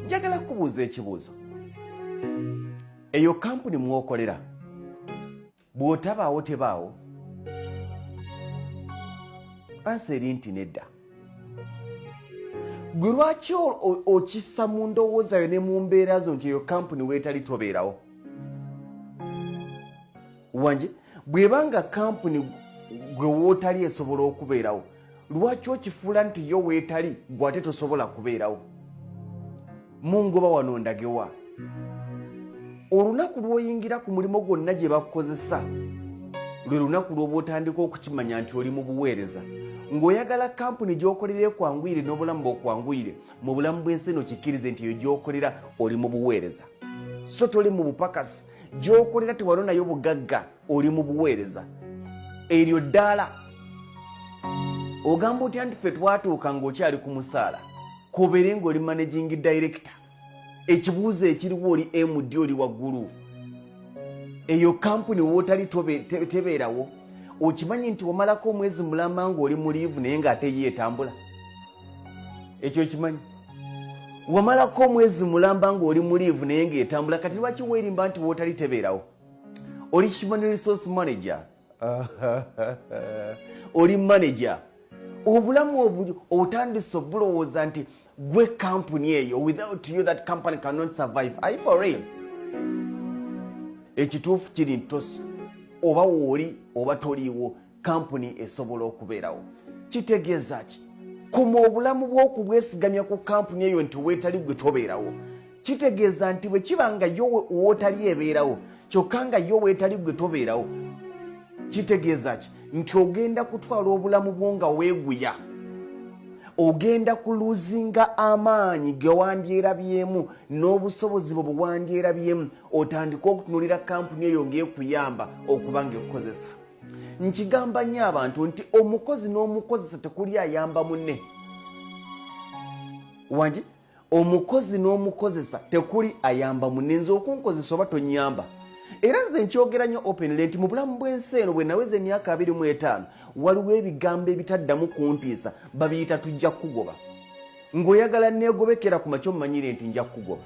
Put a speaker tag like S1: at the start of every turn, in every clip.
S1: njagala kubuuza ekibuuzo eyo kampuni mwokolera bw'otabaawo tebaawo ansa eri nti nedda gwe lwaki okissa mu ndowooza yo ne mu mbeera zo nti eyo kampuni weetali tobeerawo wanje bw'eba nga kampuni gwe wootali esobola okubeerawo lwaki okifuula nti yo weetali gwe ate tosobola kubeerawo mungoba wano ndagewa olunaku lw'oyingira ku mulimu gwonna gye bakukozesa lwe lunaku lw'oba otandika okukimanya nti oli mu buweereza ng'oyagala kampuni gy'okolera ekwanguyire n'obulamu bwokwanguyire mu bulamu bw'ensi eno kikkirize nti eyo gy'okolera oli mu buweereza so toli mu bupakasi gy'okolera tewalo nayo bugagga oli mu buweereza eryo ddaala ogamba otya nti ffe twatuuka ng'okyali ku musaala kobeere ng'oli managing director ekibuuzo ekiriwo oli md oli waggulu eyo kampuni wootali tebeerawo okimanyi nti omalako omwezi mulamba ng'oli mu liivu naye ng'ate ye etambula ekyo okimanyi wamalako omwezi mulamba ng'oli mu liivu naye ng'etambula kati lwaki weerimba nti wootali tebeerawo oli human resource manager oli manager obulamu obuli otandise obulowooza nti gwe kampuni eyo without you that company cannot survive i for real ekituufu kiri nti oba wooli oba toliiwo kampuni esobola okubeerawo kitegeeza ki kuma obulamu bw'okubwesigamya ku kampuni eyo nti weetali gwe tobeerawo kitegeeza nti bwe kiba nga yo wootali ebeerawo kyokka nga yo weetali gwe tobeerawo kitegeeza ki nti ogenda kutwala obulamu bwo nga weeguya ogenda kuluzinga amaanyi gewandyerabyemu n'obusobozi bwe bwewandyerabyemu otandike okutunulira kampuni eyo ng'ekuyamba okuba nga ekukozesa nkigamba nnyo abantu nti omukozi n'omukozesa tekuli ayamba munne wangi omukozi n'omukozesa tekuli ayamba munne nze okunkozesa oba tonyamba era nze nkyogera nnyo openly nti mu bulamu bw'ensi eno bwe naweza emyaka abiri mu etaano waliwo ebigambo ebitaddamu kuntiisa babiyita tujja kukugoba ng'oyagala neegobekera ku makyo mumanyire nti nja kukugoba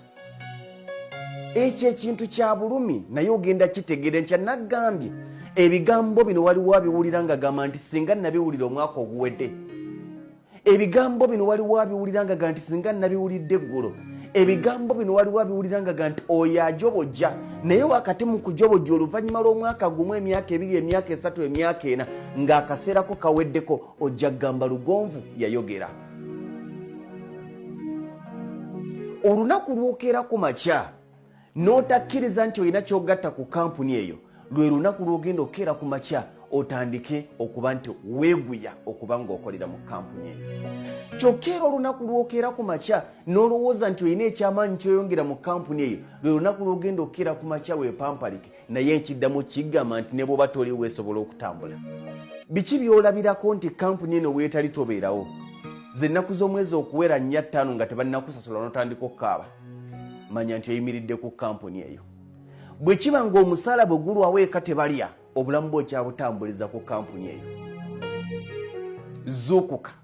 S1: ekyo ekintu kya bulumi naye ogenda kitegeera ntya nagambye ebigambo bino waliwo abiwulira nga gamba nti singa nabiwulira omwaka oguwedde ebigambo bino waliwo abiwulira nga ga nti singa nabiwulidde eggulo ebigambo bino waliwo abiwulira nga ga nti oyo ajobojja naye wakati mu kujobojja oluvannyuma lw'omwaka gumu emyaka ebiri emyaka esatu emyaka ena ng'akaseerako kaweddeko ojja kugamba lugonvu yayogera olunaku lwokeera ku makya n'otakkiriza nti olina kyogatta ku kampuni eyo lwe lunaku lwogenda okukeera ku makya otandike okuba nti weeguya okuba ng'okolera mu kampuni eyo kyokka era olunaku lwokeera ku makya n'olowooza nti olina ekyamaanyi kyoyongera mu kampuni eyo lwe lunaku lwogenda okukeera ku makya weepampalike naye nkiddamu kigamba nti ne bwoba toli weesobola okutambula biki byolabirako nti kampuni eno weetali tobeerawo ze nnaku z'omwezi okuwera nnya ttaano nga tebannakusasula notandika okukaaba manya nti oyimiridde ku kampuni eyo bwe kiba ng'omusaala bwe gulwawo eka tebalya obulamu bwe okyabutambuliza ku kampuni eyo zuukuka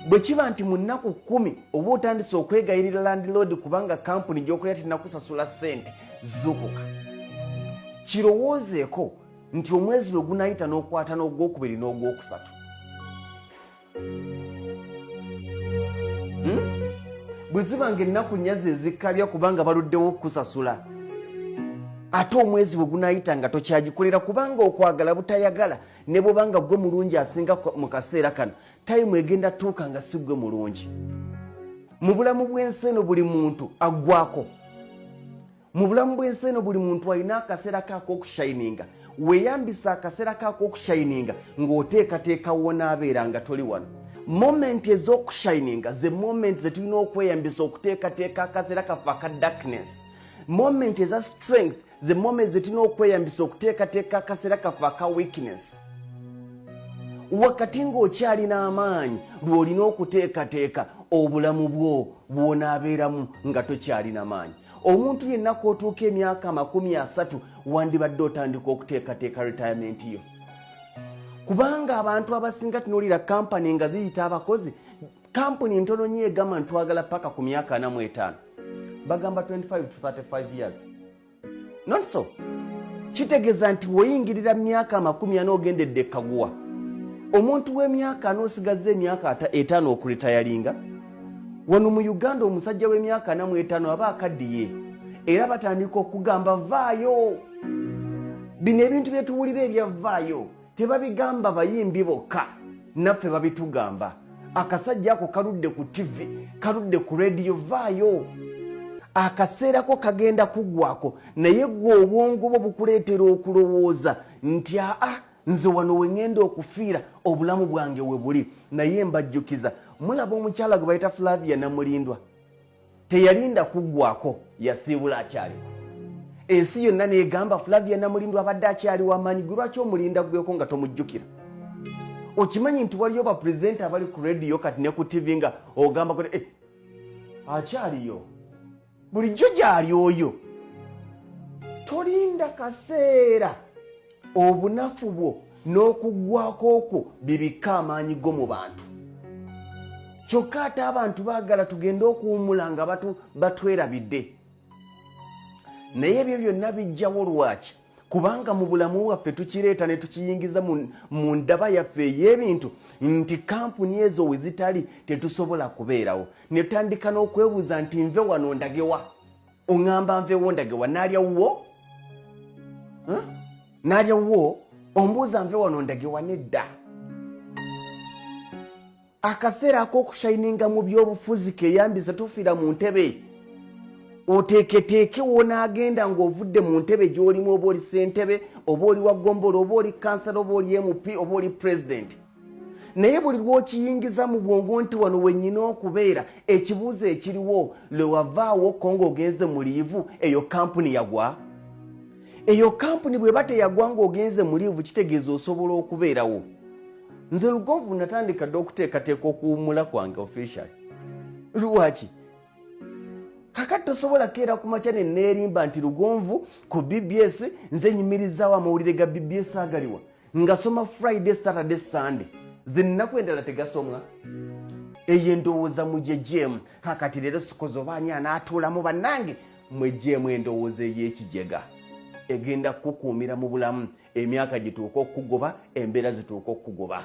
S1: bwe kiba nti mu nnaku kkumi oba otandise okwegayirira landiloodi kubanga kampuni gy'okolera tinakusasula ssente zukuka kirowoozeeko nti omwezi lwe gunayita n'okwata n'ogwokubiri n'ogwokusatu hmm? bwe ziba nga ennaku nyazi ezikkabya kubanga baluddewo okukusasula ate omwezi bwe gunayita nga tokyagikolera kubanga okwagala butayagala ne bwoba nga gwe mulungi asinga mu kaseera kano tayimu egenda tuuka nga si gwe mulungi mu bulamu bw'ensi eno buli muntu aggwako mu bulamu bw'ensi eno buli muntu alina akaseera ke ak'okushayininga weeyambisa akaseera ke ak'okushayininga ng'oteekateeka wonaabeera nga toli wano momenti ez'okushayininga ze momenti ze tulina okweyambisa okuteekateeka akaseera kaffe aka darkness momenti eza strength ze mome zetulina okweyambisa okuteekateeka akaseera kaffe aka weakness wakati ng'okyalina amaanyi lw'olina okuteekateeka obulamu bwo bw'onaabeeramu nga tokyalina maanyi omuntu yenna k'otuuka emyaka amakumi asatu wandibadde otandika okuteekateeka retayamenti yo kubanga abantu abasinga tunuulira kampani nga ziyita abakozi kampuni ntono nyo egamba ntitwagala paka ku myaka ana mu etaano bagamba 25 to 35 years not so kitegeeza nti woyingirira myaka amakumi ana ogendedde ekaguwa omuntu w'emyaka ana osigazza emyaka etaano okulitayalinga wano mu uganda omusajja w'emyaka ana mu etaano aba akaddiye era batandika okugamba vaayo bino ebintu byetuwulira ebyavaayo tebabigamba bayimbi bokka naffe babitugamba akasajja ako kaludde ku tivi kaludde ku rediyo vaayo akaseerako kagenda kugwako naye gwe obwongo bwo bukuleetera okulowooza nti aa nze wano wengenda okufiira obulamu bwange we buli naye mbajjukiza mulaba omukyala gwe bayita flavia namulindwa teyalinda kuggwako yasiibula akyaliwo ensi yonna negamba flavia namulindwa abadde akyali wamaanyi gwe lwaki omulinda gweko nga tomujjukira okimanyi nti waliyo bapurezidenti abali ku rediyo kati ne ku tivi nga ogamba kut eh, akyaliyo bulijjo gyali oyo tolinda kaseera obunafu bwo n'okuggwako okwo bibikka amaanyi go mu bantu kyokka ate abantu baagala tugende okuwumula nga batwerabidde naye ebyo byonna bijjawo lwaki kubanga mu bulamu bwaffe tukireeta ne tukiyingiza mu ndaba yaffe ey'ebintu nti kampuni ezo we zitali tetusobola kubeerawo netandika n'okwebuuza nti nve wano ndagewa oŋŋamba nveewo ndage wa naalya wuwo naalya wuwo ombuuza nve wano ndage wa nedda akaseera ak'okushayininga mu by'obufuzi keyambiza tufiira mu ntebe oteeketeeke wonaagenda ng'ovudde mu ntebe gy'olimu oba oli ssentebe oba oli wa gombola oba oli kansala oba oli mp oba oli pulezidenti naye buli lwokiyingiza mu bwongo nti wano wenyina okubeera ekibuuzo ekiriwo lwewavaawo ko ngaogenze mu liivu eyo kampuni yagwa eyo kampuni bweba teyagwa ngaogenze mu liivu kitegeeza osobola okubeerawo nze lugonvu natandika dde okuteekateeka okuwumula kwange official lwaki kakati tosobola keera ku makya neneerimba nti lugonvu ku bbs nze nyimirizaawo amawulire ga bbs agaliwa ngasoma friday saturday sunday zinnaku endala tegasomwa eyo endowooza mujejemu kakati leero sikozi oba ani anaatuulamu bannange mwejemu endowooza ey'ekijega egenda kukukuumira mu bulamu emyaka gituuka okukugoba embeera zituuka okukugoba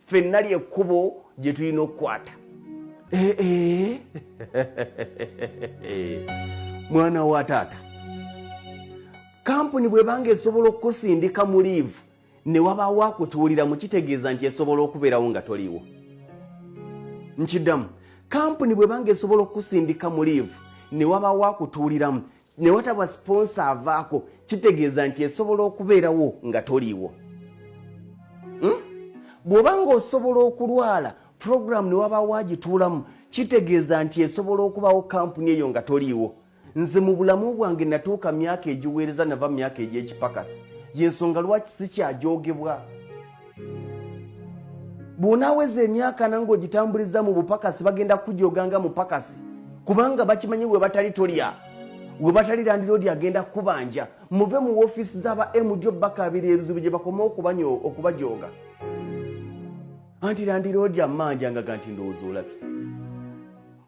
S1: ffenna lyekkubo gye tulina okukwata eh, eh. mwana wa taata kampuni bwebanga esobola okukusindika mu liivu ne wabaawo akutuuliramu kitegeeza nti esobola okubeerawo nga toliiwo nkiddamu kampuni bwebanga esobola okukusindika mu liivu ne wabaawo akutuuliramu ne wataba siponsa avaako kitegeeza nti esobola okubeerawo nga toliiwo hmm? bw'oba ng'osobola okulwala puroguramu ne wabaawo agituulamu kitegeeza nti esobola okubawo kampuni eyo nga toliiwo nze mu bulamu bwange natuuka myaka egiweereza nava mu myaka egy'ekipakasi y'ensonga lwaki sikyagyogebwa bw'onaaweza emyaka nange ogitambuliza mu bupakasi bagenda kukujooga nga mupakasi kubanga bakimanyi we batali tolya we batali landiroodi agenda kukubanja muve mu wofiisi z'aba mjo bakabiri ebizibu gye bakoma okubajooga anti landiroodi amanja nga ganti ndowooza olabye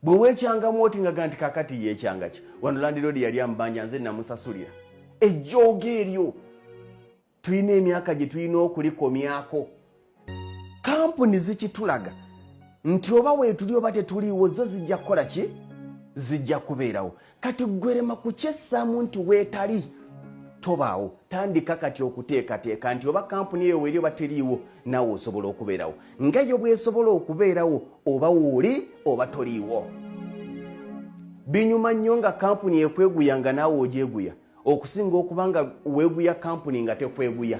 S1: bwe weekyangamu oti nga ganti kakati yeekyanga ki wano landiroodi yali amubanja nze namusasulira ejjooga eryo tulina emyaka gye tulina okulikomyako kampuni zikitulaga nti oba weetuli oba tetuliiwo zo zijja kukola ki zijja kubeerawo kati gwerema kukyessaamu nti weetali tobaawo tandika kati okuteekateeka nti oba kampuni eyo weeri oba teriiwo naawe osobola okubeerawo nga yo bwesobola okubeerawo oba wooli oba toliiwo binyuma nnyo nga kampuni ekweguya nga naawe ogyeguya okusinga okuba nga weeguya kampuni nga tekweguya